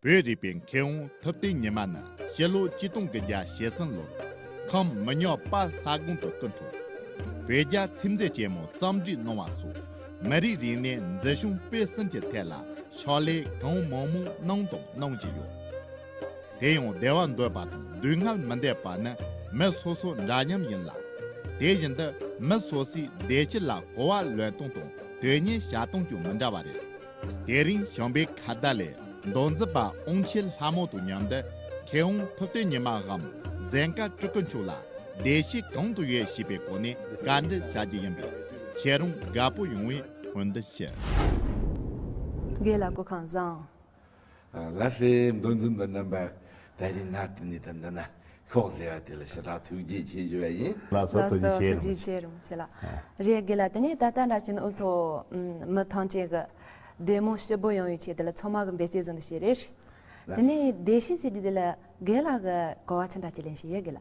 བོད་རིག་པའི་མཁས་དབང་ཐུབ་བསྟན་ཉི་མ་ནི་སྤྱི་ལོ་གཅིག་སྟོང་གི་བརྒྱ་ཞེ་གསུམ་ལོར་ཁམས་མི་ཉག་དཔལ་ལྷ་དགོན་དུ་སྐུ་འཁྲུངས། བོད་རྒྱ་ཚིམ་མཛད་ཆེན་མོ་བརྩམས་སྒྲིག་གནང་བ་སོགས་མི་རིགས་རིག་གནས་འཛིན་སྐྱོང་སྤེལ་གསུམ་གྱི་ཐད་ལ་ཕྱག་ལས་གང་མང་མང་གནང་དང་གནང་བཞིན་ཡོད། དེ་ཡང་བདེ་བ་འདོད་པ་དང་སྡུག་བསྔལ་མི་འདོད་པ་ནི་མི་སོ་སོ་འདྲ་མཉམ་ཡིན་ལ། དེ་བཞིན་དུ་མི་སོ་སོའི་བདེ་སྐྱིད་ལ་གོ་བ་ལོན་སྟངས་དང་དོན་གཉེར་བྱ་སྟངས་ཀྱང་མི་འདྲ་བ་རེད། དེ་རིང་བྱམས་པའི་ཁ་བརྡ་ལས་མདོ་འཛིན་པ་ཨོང་ཆེ་ལྷ་མོ་དང་མཉམ་དུ་མཁས་དབང་ཐུབ་བསྟན་ཉི་མ་འམ་གཟན་དཀར་སྤྲུལ་སྐུ་མཆོག་ལ་བདེ་སྐྱིད་གང་དུ་ཡོད་ཞེས་པའི་སྐོར་ནས་བཀའ་འདྲི་བྱ་རྒྱུ་ཡིན་པས། ཁྱེད་རང་དགའ་པོ་ཡོང་བའི་སྨོན་འདུན་ཞུ། དགེ་ལ་གོ་གང་བཟང། ལ་སེ་འདོན་འཛིན་པ་རྣམ་པ་ད་རིང་ན་དེ་ནས་ད་འདི་ན་ཤོག་ཟེར་བ་དེ་ལ་ཞེ་དྲག་ཐུགས་རྗེ་ཆེ་ཞུ་བ་ཡིན། ལ་སོ་ཐུགས་རྗེ་ཆེ་རུང་ཆེ། རེད་དགེ་ལ་དེ་ནས་ད་ལྟ་འདྲ་བྱས་ན་འུ་ཚོ་མི་ཐང་ཆེན་གི་བདེ་མོ་ཞི་པོ་ཡོང་བའི་ཆེད་དེ་ལ་ཚང་མ་གི་འབད་བསྐྱེད་ཟིན་ཏུ་ཞེས་རེད། དེ་ནས་བདེ་ཞིང་སེ་དེ་དེ་ལ་དགེ་ལ་གི་གོ་བ་ཆེ་འདྲ་ཅིག་ལེན་ཞེས་ཡོད་དགེ་ལ།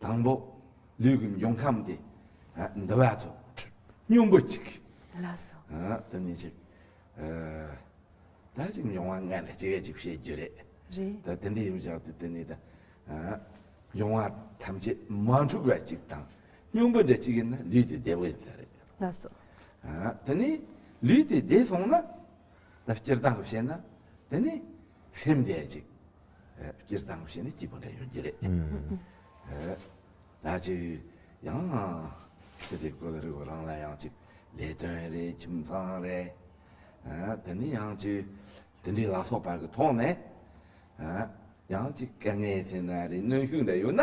དང་པོ། ལུས་ཀྱི་འབྱུང་ཁམས་ཏེ། འདུ་བ་ཚོ། སྙོམས་པོ་གཅིག། ལ་སོགས། དེ་ནི་གཅིག། ད་ཅིག་འབྱུང་བ་ལྔ་ལ་སྤྱི་སྐད་ཅིག་བཤད་རྒྱུ་རེད། རེད། དེ་འདྲ་ཡིན་པ་ཞག་དེ་དེ་ནི་དང། འབྱུང་བ་ཐམས་ཅད་མ་འཁྲུགས་པ་གཅིག་དང། སྙོམས་པོ་འདྲ་གཅིག་ཡིན་ན་ལུས་དེ་བདེ་བོ་ཡིན་ས་རེད། ལ་སོགས། དེ་ནི་ལུས་དེ་བདེ་སོང་ན། ད་སྤྱིར་བཏང་དུ་བཤད་ན། དེ་ནི་སེམས་བདེ་གཅིག། སྤྱིར་བཏང་བཞིན་ནི་སྐྱིད་པོ་འདྲ་ཡོད་ཀྱི་རེད། ད་ཅིག་ཡང་ན་ཚེ་འདི་ཀོ་ལེ་རི་བོ་རང་ལ་ཡང་ཅིག་ལས་དོན་རེད་ཁྱིམ་ཚང་རེད། དེ་ནི་ཡང་ཅིག་དེ་འདྲའི་ལ་སོགས་པར་གྱི་ཐོག་ནས་ཡང་ཅིག་དཀའ་ངལ་དེ་འདྲ་རེད་གནོན་ཤུགས་འདྲ་ཡོད་ན།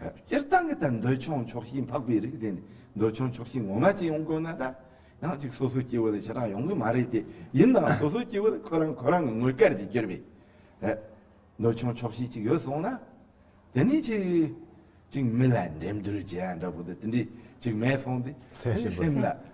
སྤྱིར་བཏང་གི་ད་འདོད་ཆུང་ཆོག་ཤེས་འཕགས་པའི་རིགས་དེ་ནི་འདོད་ཆུང་ཆོག་ཤེས་ངོ་མ་ཅན་ཡོང་དགོས་ན་ད་ཡང་གཅིག་སོ་སོའི་སྐྱེ་བོ་ལ་ཞེ་དྲག་ཡོང་གི་མ་རེད་དེ། ཡིན་ནའང་སོ་སོའི་སྐྱེ་བོ་ལ་ཁོ་རང་ཁོ་རང་གི་དངོས་སྐལ་གྱིས་གྱུར་པའི་འདོད་ཆུང་ཆོག་ཤེས་ཅིག་ཡོད་སོང་ན། དེ་ནི་ཅིག་ཅིག་མི་ལ་འགྲན་བསྡུར་བྱེད་ཡ་འདྲ་བོ་དེ་འདྲས་ཅིག་མེད་སོང་སྟེ། སེམས་ལ།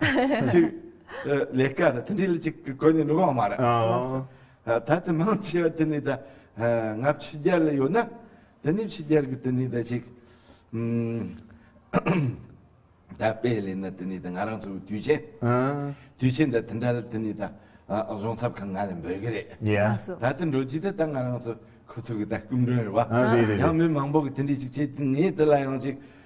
ལས་ཀ་དང་དེ་འདྲའི་ལས་ཅིག་གོ་ནས་འགྲོ་གི་མ་རེད། ད་དེ་མང་ཆེ་བ་དེ་ནི་ད་ང་ཕྱི་རྒྱལ་ལ་ཡོད་ན་དེ་ནི་ཕྱི་རྒྱལ་གྱི་དེ་ནི་ད་ཅིག་ད་དཔེ་ལས་ན་དེ་ནི་ད་ང་རང་ཚོ་དུས་ཆེན་དུས་ཆེན་ད་དེ་འདྲ་ལ་དེ་ནི་ད་གཞུང་ཚབ་ཁང་ང་ལ་འབོད་ཀྱི་རེད། ད་དེ་འགྲོ་རྒྱུ་དེ་ད་ང་རང་ཚོ་ཁོ་ཚོ་གི་ད་སྐུ་མགྲོན་རེད་བ། ཡང་མི་མང་པོ་གི་དེ་འདྲའི་ཅིག་བྱེད་དེ་ངས་དེ་ལ་ཡང་ཅིག་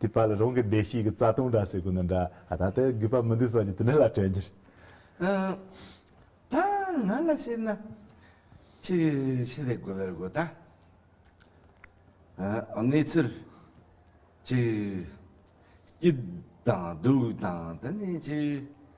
དེ་ཕ་ལ་རང་གི་བདེ་སྐྱིད་ཀྱི་རྩ་ལྟུང་འདྲ་ཟེར་དགོས་ན་འདྲ་ཨ་ད་ལྟའི་རྒུད་པ་མི་འདུག་ས་ཀྱི་དེ་འདྲ་ལ་དྲན་རྒྱུར། ཨ་ང་ལ་བཤད་ན་ཁྱི་ཁྱི་ལས་དགོད་ལ་རེ་དགོད་ད་གནས་ཚུལ་ཁྱི་སྐྱིད་དང་སྡུག་དང་དེ་ནས་ཁྱི།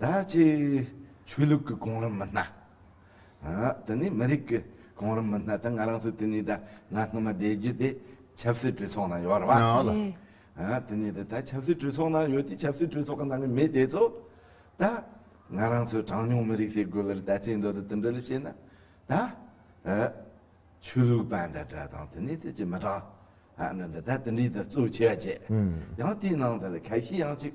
ད་ཅི། ཆོས་ལུགས་ཀྱི་གོང་རིམ་མི་སྣ། དེ་ནས་མི་རིགས་ཀྱི་གོང་རིམ་མི་སྣ་དང་ང་རང་ཚོ་དེ་ནས་ད་ང་སྔོན་མ་བསྡད་རྒྱུ་དེ་ཆབ་སྲིད་གྲོས་ཚོགས་ནང་ཡོད་རེད་བ། དེ་ནས་ད་ད་ཆབ་སྲིད་གྲོས་ཚོགས་ནང་ཡོད་དུས་ཆབ་སྲིད་གྲོས་ཚོགས་ཀྱི་ནང་གི་མི་དེ་ཚོ་ད། ང་རང་ཚོའི་གྲངས་ཉུང་མི་རིགས་ཞེས་དགོད་ལེར་ད་ཚིག་མདོ་དེ་དེ་འདྲ་ལས་བཤད་ན་ད། ཆོས་ལུགས་པ་འདྲ་འདྲ་དང་དེ་ནས་ད་ཅི་མི་གྲངས་ཧ་འདྲ་འདྲ་ད་དེ་འདྲའི་ད་གཙོ་ཆེ་བ་བྱས། ཡང་དེའི་ནང་དུ་ད་གལ་ཤེས་ཡང་ཅིག།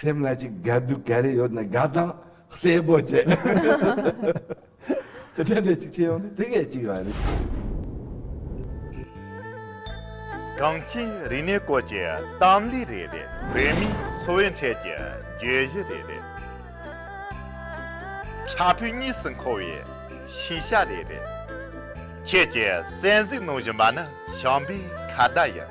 སེམས་ལ་ཅིག་དགའ་སྡུག་ག་རེ་ཡོད་ན་དགའ་སྟངས་གསལ་པོ་བྱེད། དེ་འདྲ་འདྲ་ཅིག་བྱེད་ཡོང་ནི་དེ་གས་ཅིག་རེད། གངས་ཅན་རིག་གནས་སྐོར་གྱི་གཏམ་གླེང་རེ་རེ། བོད་མིའི་འཚོ་བའི་འཕྲལ་གྱི་བརྗོད་གཞི་རེ་རེ། ཕྲ་ཕུའི་གཉིས་སུ་འཁོར་བའི་ཤེས་བྱ་རེ་རེ། ཁྱེད་ཀྱི་གསན་གཟིགས་གནང་བཞིན་པ་ནི་བྱམས་པའི་ཁ་བརྡ་ཡིན།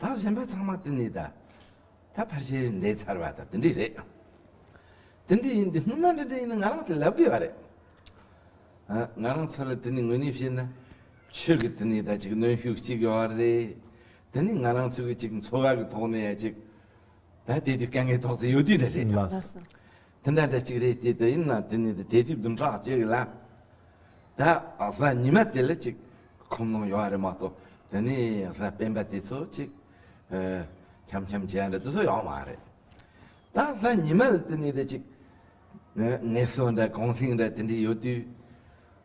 ད་གཞན་པ་ཚང་མ་དེ་ནི་ད་ད་ཕར་ཞེ་རེད་འདེད་ཚར་བ་དང་དེ་འདྲས་རེད། དེ་འདྲས་ཡིན་དེ་སྔོན་མ་དེ་འདྲས་ཡིན་ན་ང་རང་ཚོ་ལབ་དགོས་བ་རེད། ང་རང་ཚོ་ལ་དེ་ནི་དངོས་གནས་བཤད་ན་ཆོས་ཀྱི་དེ་ནི་ད་ཅིག་གནོན་ཤུགས་ཅིག་ཡོད་བ་རེད། དེ་ནི་ང་རང་ཚོ་གི་ཅིག་འཚོ་བ་གི་ཐོག་ནས་ཡ་ཅིག་ད་དེ་དུས་དཀའ་ངལ་དོགས་ཚེ་ཡོད་དུས་འདྲ་རེད། དེ་འདྲ་འདྲ་གཅིག་རེད་ཅེས་དེ་ཡིན་ན་དེ་ནི་དེ་དུས་བདུན་ཕྲག་གཅིག་ལ་ད་གཟའ་ཉི་མ་དེ་ལ་ཅིག་ཁོམ་ལོང་ཡོད་རེད་མ་གཏོགས་དེ་ནི་གཟའ་སྤེན་པ་དེ་ཚོ་ཅིག་འཁྱམ་འཁྱམ་བྱས་འདྲ་དེ་ཚོ་ཡོད་མ་རེད། ད་གཟའ་ཉི་མ་ལ་དེ་ནི་དེ་ཅིག་ངལ་གསོ་འདྲ་གུང་སེང་འདྲ་དེ་འདྲ་ཡོད་དུས་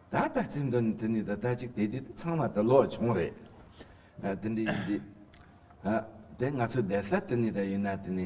ད་ལྟ་ཚིག་འདོན་དེ་ནི་ད་ཅིག་དེ་དུས་དེ་ཚང་མ་དེ་ལོ་ཆུང་རེད་དེ་འདྲ་ཡིན་དུས་ད་ང་ཚོ་བསྡད་ས་དེ་ནི་ད་ཡིན་ན་དེ་ནི།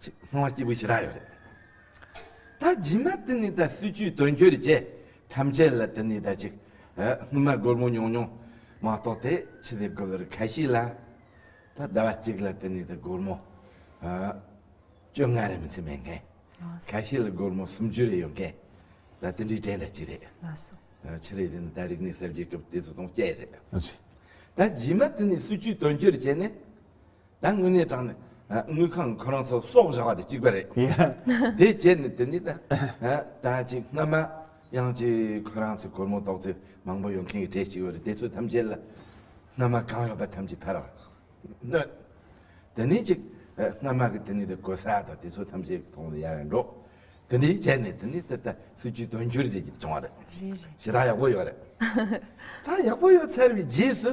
ཅེས་སྣང་བ་སྐྱེས་བུ་ཞི་རགས་ཡོད་རེད། ད་སྦྱིན་མ་དེ་ནི་ད་སྲིད་ཇུས་དོན་འཁྱོལ་རྗེས་ཐམས་ཅད་ལ་དེ་ནི་ད་ཅིག་སྔོན་མ་སྒོར་མོ་ཉུང་ཉུང་མ་གཏོགས་དེ་ཕྱི་དེ་དགོས་ལོར་ཁ་ཤིས་ལ་ད་ཟླ་བ་གཅིག་ལ་དེ་ནི་ད་སྒོར་མོ་བཅོ་ལྔ་རེ་མི་ཚེ་མེད་མཁན། ཁ་ཤིས་ལ་སྒོར་མོ་སུམ་ཅུ་རེ་ཡོད་མཁན་ད་དེ་འདྲའི་གྲས་འདྲ་ཅི་རེད། ཕྱི་རེད་དེ་ནི་ད་རིག་གནས་གསར་བརྗེའི་སྐབས་དེ་ཚོ་དང་བསྐྱལ་རེད། ད་སྦྱིན་མ་དེ་ནི་སྲིད་ཇུས་དོན་འཁྱོལ་བྱས་ནས། ད་དངུལ་གནས་དྲངས་ནས་དངུལ་ཁང་ཁོ་རང་ཚོ་སོག་བཞག་པ་དེ་གཅིག་པ་རེད། དེ་རྗེས་ནས་དེ་ནས་ད་ཅིག་སྔ་མ་ཡང་ཅིག་ཁོ་རང་ཚོས་སྒོར་མོ་ཏོག་ཙེ་མང་པོ་ཡོད་མཁན་གྱི་གྲས་ཅིག་ཡོད་རེད་དེ་ཚོ་ཐམས་ཅད་ལ་སྔ་མ་གང་ཡོད་པ་ཐམས་ཅད་ཕར་གནོད། དེ་ནས་ཅིག་སྔ་མ་གི་དེ་ནས་ད་གོ་ས་དང་དེ་ཚོ་ཐམས་ཅད་ཐོག་ནས་ཡར་ཡར་འགྲོ། དེ་འདྲའི་རྗེས་ནས་དེ་ནས་ད་སྲིད་ཇུས་དོན་འཁྱོལ་བྱེད་ཀྱི་བྱུང་བ་རེད། ཞེ་དྲག་ཡག་པོ་ཡོད་རེད། ད་ཡག་པོ་ཡོད་ཚར་བའི་རྗེས་སུ་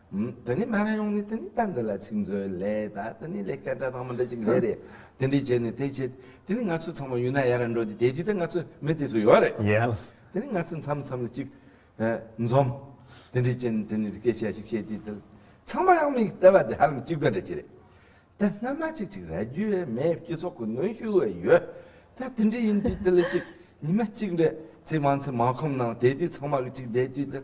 དེ་ནས་སྨན་ར་ཡོང་ནས་དེ་ནས་ལྟ་འདི་ལ་ཚིག་མཛོད་ལས་ད་དེ་ནས་ལས་ཀ་འདྲ་དང་མི་འདྲ་ཅིག་ལས་རེད་དེ་འདྲས་བྱས་ནས་དེ་བྱས་དེ་ནས་ང་ཚོ་ཚང་མ་ཡུན་ནན་ཡ་ར་འགྲོ་དེ་དེ་དུས་ད་ང་ཚོ་མི་དེ་ཚོ་ཡོད་རེད Yes དེ་ནས་ང་ཚོ་མཚམས་མཚམས་ལ་ཅིག་འཛོམས་དེ་འདྲས་བྱས་ནས་དེ་ནས་སྐད་ཆ་ཞིག་བཤད་དུས་དེ་ལ་ཚང་མ་ཡང་མི་ལྟ་བ་དེ་ཧ་ལམ་གཅིག་པ་འདྲ་ཅིག་རེད་ད་སྔ་མ་ཅིག་ཅིག་ར་རྒྱུས་རེད་མས་སྤྱི་ཚོགས་ཀྱི་གནོན་ཤུགས་བས་ཡོད་ད་དེ་འདྲས་ཡིན་དུས་དེ་ལ་ཅིག་ཉི་མ་གཅིག་འདྲས་ཚེ་དབང་ཚེ་མ་ཁོམ་ནང་དེ་དུས་ཚང་མ་གཅིག་བསྡད་དུས་དེ་ལ་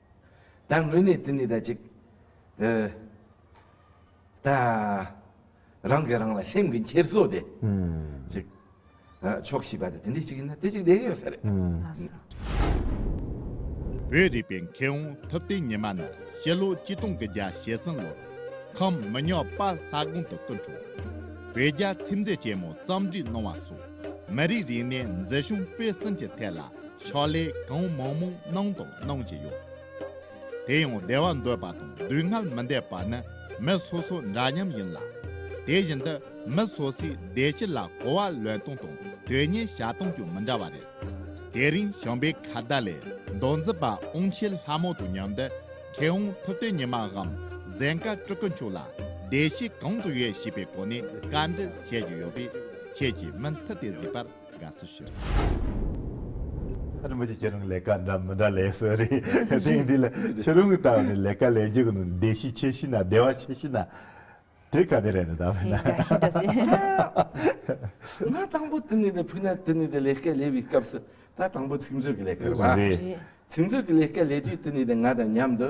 དང་ལུས་ནི་དེ་ནི་ད་ཅིག། དང། རང་གིས་རང་ལ་སེམས་ཀྱི་འཁྱེར་སོ་དེ། ཅིག། ཕྱོགས་བཞི་པ་དེ་དེ་འདྲའི་ཅིག་ཡིན་ན་དེ་ཅིག་དེ་ཡོད་ས་རེད། བོད་རིག་པའི་མཁས་དབང་ཐུབ་བསྟན་ཉི་མ་ནི་སྤྱི་ལོ་གཅིག་སྟོང་གི་བརྒྱ་ཞེ་གསུམ་ལོར། ཁམས་མི་ཉག་དཔའ་ལྷ་དགོན་དུ་སྐུ་འཁྲུངས། བོད་རྒྱ་ཚིམ་འཛད་ཆེན་མོ་བརྩམས་བྲིས་གནང་བ་སོགས། མི་རིགས་རིག་གནས་འཛིན་སྐྱོང་སྤེལ་གསུམ་གྱི་ཐད་ལ། ཕྱག་ལས་གང་མང་མང་གནང་དང་གནང་བཞིན་ཡོད། དེ་ཡང་བདེ་བ་འདོད་པ་དང་སྡུག་བསྔལ་མི་འདོད་པ་ནི་མི་སོ་སོ་འདྲ་མཉམ་ཡིན་ལ། དེ་བཞིན་དུ་མི་སོ་སོའི་བདེ་སྐྱིད་ལ་གོ་བ་ལོན་སྟངས་དང་དོན་གཉེར་བྱ་སྟངས་ཀྱང་མི་འདྲ་བ་རེད། དེ་རིང་བྱམས་པའི་ཁ་བརྡ་ལས་མདོ་འཛིན་པ་ཨོང་ཆེ་ལྷ་མོ་དང་མཉམ་དུ་མཁས་དབང་ཐུབ་བསྟན་ཉི་མ་འམ་གཟན་དཀར་སྤྲུལ་སྐུ་མཆོག་ལ་བདེ་སྐྱིད་གང་དུ་ཡོད་ཞེས་པའི་སྐོར་ནས་བཀའ་འདྲི་བྱེད་ཀྱི་ཡོད་པས་ཁྱེད་ཀྱིས་མུ་མཐུད་དེ་གཟིགས་པར། དགའ་བསུ་ཞུ། རིན་པོ་ཆེ་ཁྱེད་རང་ལས་ཀ་འདྲ་མི་འདྲ་ལས་སུ་རེད་དེང་དུས་ལ་ཁྱེད་རང་གི་ལྟ་བ་ནས་ལས་ཀ་ལས་རྒྱུ་གི་ནང་བདེ་ཤི་ཆེ་ཤི་ན་བདེ་བ་ཆེ་ཤི་ན་དེ་ག་ནས་རེད་ནི་ད་བས་ན། ཞེས་དགའ་ཞིང་དགའ་བསུ། ང་དང་པོ་དེ་ནས་བུ་ནག་དེ་ནས་ལས་ཀ་ལས་པའི་སྐབས་སུ་ད་དང་པོ་ཚིག་མཛོད་ཀྱི་ལས་ཀ་རེད་བ། རེད། ཚིག་མཛོད་ཀྱི་ལས་ཀ་ལས་དུས་དེ་ནས་ང་དང་མཉམ་དུ་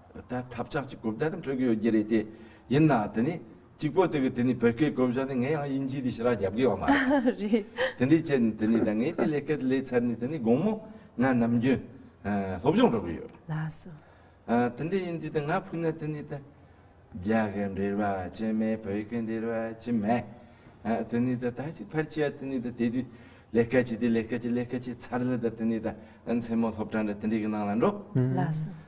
ད་ཐབས་ཆག་ཅིག་གོ་བདེ་ཙམ་འཕྲོད་ཀྱི་ཡོད་རྒྱུ་རེད་དེ། ཡིན་ནའང་དེ་ནི། གཅིག་པོ་དེ་གི་དེ་ནི་བོད་སྐད་གོ་བཞག་ནི་ངས་ཡང་དབྱིན་ཇིའི་དེ་ཞི་རགས་རྒྱབ་དགོས་བ་མ་རེད། རེད། དེ་འདྲའི་ཆེད་ནི་དེ་ནི་ད་ངས་དེ་ལས་སྐད་ལས་ཚར་ནི་དེ་ནི་དགོང་མོ་ང་ནམ་རྒྱུན། སློབ་སྦྱོང་འགྲོ་གི་ཡོད། ལགས་སོ། དེ་འདྲ་ཡིན་དུས་ད་ང་ཕུལ་ན་དེ་ནི་ད། རྒྱ་སྐད་འབྲེལ་བ་ཅི་མེད་བོད་སྐད་འབྲེལ་བ་ཅི་མེད། དེ་ནི་ད་ད་ཅིག་ཕར་ཆས་དེ་ནི་ད་དེ་དུས། ལས་སྐལ་ཆེ་དེ་ལས་སྐལ་ཆེ་ལས་སྐལ་ཆེ་ཚར་ལ་ད་དེ་ནི་ད། མཚན་མོ་སློབ་གྲྭ་འདྲ་དེ་འདྲའི་གི་ནང་ལ་འགྲོ། ལགས་སོ།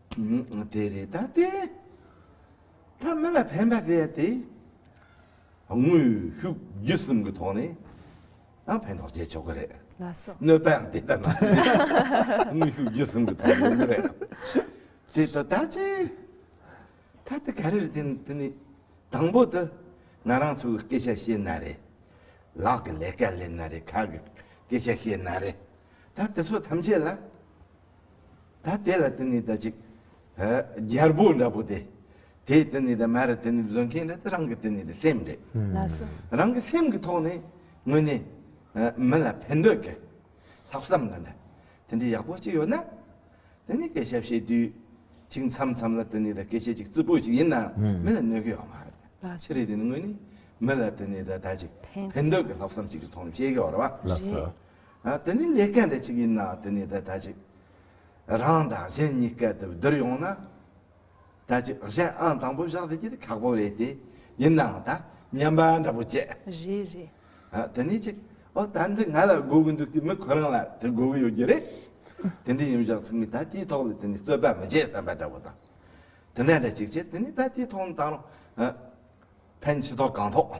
དེ་རི་དྭགས་སྟེ། ཐ་མི་ལ་ཕན་པ་བས་ཏེ། དངོས་ཤུགས་བརྒྱུད་གསུམ་གྱི་ཐོག་ནས་ཡང་ཕན་ཐོགས་བྱས་ཆོག་གི་རེད། གནོད་པའང་དེ་ལྟར་མ་ཟད། དངོས་ཤུགས་བརྒྱུད་གསུམ་གྱི་ཐོག་ནས་ཡིན་གྱི་རེད། དེ་དང་ད་ཅི། ད་ལྟ་ག་རེ་རེད་དེ་ནི་དེ་ནི། དང་པོ་དུ། ང་རང་ཚོ་གི་སྐད་ཆ་བཤད་ན་རེད། ལག་གི་ལས་ཀ་ལས་ན་རེད་ཁ་གི་སྐད་ཆ་བཤད་ན་རེད། ད་དེ་ཚོ་ཐམས་ཅད་ལ། ད་དེ་ལ་དེ་ནི་ད་ཅིག། རྒྱལ་པོ་འདྲ་པོ་དེ། དེས་དེ་ནི་ད་མ་རེད་དེ་ནི་བཟོད་མཁན་རེད་དེ་རང་གི་དེ་ནི་ད་སེམས་རེད། ལ་སོ། རང་གི་སེམས་ཀྱི་ཐོག་ནས་ངོས་ནས། མི་ལ་ཕན་འདོད་ཀྱི། ལྷག་བསམ་དང་འདྲ། དེ་འདྲའི་ཡག་པོ་ཅིག་ཡོད་ན། དེ་ནི་སྐད་ཆ་བཤད་དུས། ཅིག་མཚམས་མཚམས་ལ་དེ་ནི་ད་སྐད་ཆ་ཅིག་རྩུབ་པོ་ཅིག་ཡིན་ན་མི་ལ་གནོད་ཀྱི་ཡོད་མ་རེད། ལ་སོ། ཕྱི་རེད་དེ་ནི་ངོས་ནས། མི་ལ་དེ་ནི་ད་ད་ཅིག། ཕན་འདོད་ཀྱི་ལྷག་བསམ་ཅིག་གི་ཐོག་ནས་བཤད་ཀྱི་ཡོད་རེད། ལ་སོ། དེ་ནི་ལས་སྐལ་འདྲ་ཅིག་ཡིན་ན་དེ་ནི་དེ་ལྟ་ཅིག། རང་དང་གཞན་གཉིས་སྐལ་དེར་བསྡུར་ཡོང་ན། དེ་ཅིག་གཞན་ཨང་དང་པོ་བཞག་དེ་ཅི་སྟེ་ཁག་པོ་རེད་དེ། ཡིན་ནའང་ད་སྙམ་པ་འདྲ་པོ་སྐྱེས། རེད་རེད། དེ་ནི་ཅིག། ཨོ་ད་འདི་ང་ལ་དགོས་ཀྱི་འདུག་དེ་མི་ཁོ་རང་ལ་དེ་དགོས་ཀྱི་ཡོད་རྒྱུ་རེད། དེ་འདྲ་ཡིན་བཞག་ཚིག་མི་ད་དེའི་ཐོག་ལ་དེ་ནི་རྩོད་པ་མི་བྱེད་བསམ་པ་འདྲ་བོ་དང། དེ་འདྲ་འདྲ་ཅིག་བྱེད་དེ་ནི་ད་དེའི་ཐོག་ནས་དང་རུང། ཕན་ཆེ་ཐོག་གང་ཐོག།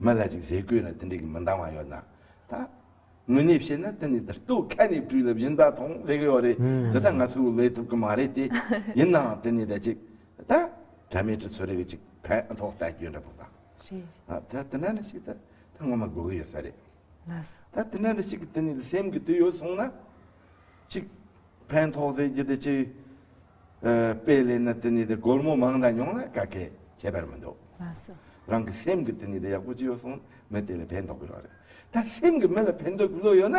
མི་ལ་ཅིག་ཟས་གོས་ལ་དེ་འདྲ་གི་མི་འདང་བ་ཡོད་ན་ད། དངོས་གནས་བཤད་ན་དེ་ནི་ད་སྟོད་ཁ་ནས་བྲུས་ལ་བཞིན་ད་ཐོང་ཟེར་གི་ཡོད་རེད་དེ་ད་ང་ཚོས་བོད་ལས་ཐུབ་གི་མ་རེད་དེ། ཡིན་ནའང་དེ་ནི་ད་ཅིག་ད། དྲ་མའི་གྲི་ཚོ་རེ་གི་ཅིག་ཕན་ཐོག་ལྟ་རྒྱུ་འདྲ་པོ་དང། ད་དེ་འདྲ་འདྲ་ཞིག་ད་ད་ངོ་མ་དགོས་གི་ཡོད་ས་རེད། ད་དེ་འདྲ་འདྲ་ཞིག་གི་དེ་ནི་ད་སེམས་ཀི་དུས་ཡོད་སོང་ན། ཅིག་ཕན་ཐོག་ཟེར་རྒྱུ་དེ་ཅིག། པའི་སླད་ན་དེ་ནི་དེ་སྒོར་མོ་མང་དང་ཉུང་ལ་ཀ་ཁད་ཁྱད་པར་མི་འདུག། མ་གསོ། རང་གི་སེམས་ཀྱི་དེ་ནི་དེ་ཡག་པོ་ཅི་ཡོད་སོང་མི་དེ་ལ་ཕན་འདོགས་ཡོད་རེད། ད་སེམས་ཀྱི་མི་ལ་ཕན་འདོགས་ཀྱི་བློ་ཡོད་ན།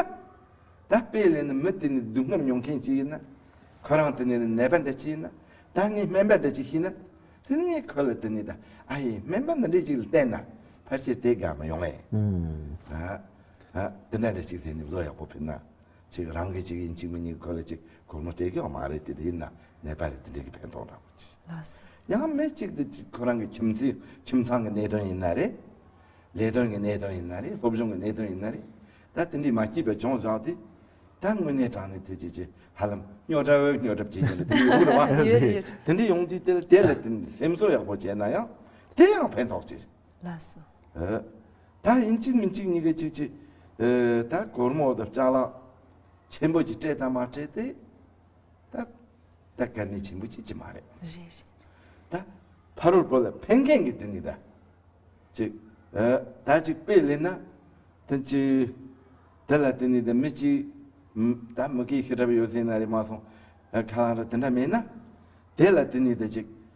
ད་པའི་སླད་ན་མི་དེ་ནི་སྡུག་བསྔལ་མྱོང་མཁན་ཅིག་ཡིན་ན། ཁོ་རང་དེ་ནི་ནད་པ་འདྲ་ཅིག་ཡིན་ན། ད་ངས་སྨན་པ་འདྲ་ཅིག་ཤི་ན། དེ་ནི་ངས་ཁོ་ལ་དེ་ནི་ད་ཨ་ཡེ་སྨན་པ་འདྲ་འདྲ་ཅིག་ལ་བསྟན་ན། ཕར་ཆེར་དེ་དགའ་མི་ཡོང་ངེས། ཨ་ཨ། དེ་འདྲ་འདྲ་ཅིག་དེ་ནི་བློ་ཡག་པོ་ཕུད་ན། གཅིག་རང་གི་གཅིག་ཡིན་གཅིག་མིན་གཉིས་ཀ་གོ་ལ་གཅིག་གོར་མོ་སྤྲད་ཀྱང་མ་རེད་དེ་ཡིན་ན་ནད་པ་རེད་དེ་འདྲའི་གི་ཕན་ཐོག་འདྲ་པོ་ཅི། ཡང་མི་གཅིག་དེ་གཅིག་ཁོ་རང་གི་ཁྱིམ་མཚེས་ཁྱིམ་ཚང་གི་གནད་དོན་ཡིན་ན་རེད། ལས་དོན་གི་གནད་དོན་ཡིན་ན་རེད་སློབ་སྦྱོང་གི་གནད་དོན་ཡིན་ན་རེད་ད་དེ་འདྲའི་མ་སྐྱིད་པའི་ལྗོངས་བཞག་དེ་ད་དངོས་གནས་དྲང་གནས་དེ་ཅི་ཅི་ཧ་ལམ་སྨྱོ་དགྲ་བོའི་སྨྱོ་གྲབས་བྱེད་ཀྱིན་རེད་དེ་འདྲའི་ཡོང་གི་རེད་བ། དེ་འདྲའི་ཡོང་དུས་དེ་ལ་དེ་ལ་དེ་སེམས་གསོ་ཡག་པོ་བྱས་ན་ཡང་དེ་ཡང་ཕན་ཐོག་ཅི་རེད། ལ་སོ། ད་ཡིན་གཅིག་མིན་གཅིག་གཉིས་ཀ་གཅིག་གཅིག། ད་གོར་མོ་དང་ལྕགས་ལག། ཆེན་པོ་གཅིག་སྤྲད་དང་མ་སྤྲད་དེ། ད་དཀར་ནི་ཆེན་པོ་གཅིག་གཅིག་མ་རེད། རེད་རེད། ད་ཕ་རོལ་པོ་ལ་ཕན་མཁན་གྱི་དེ་ནི་ད་གཅིག། ད་གཅིག་དཔེ་གླེང་ན་དེ་གཅིག། དེ་ལ་དེ་ནི་ད་མི་གཅིག། ད་མུ་གེའི་ཤི་གྲབས་ཡོད་སྲིད་ན་རེད་མ་སོང། ཁ་ལང་ར་དེ་འདྲ་མེད་ན། དེ་ལ་དེ་ནི་ད་གཅིག།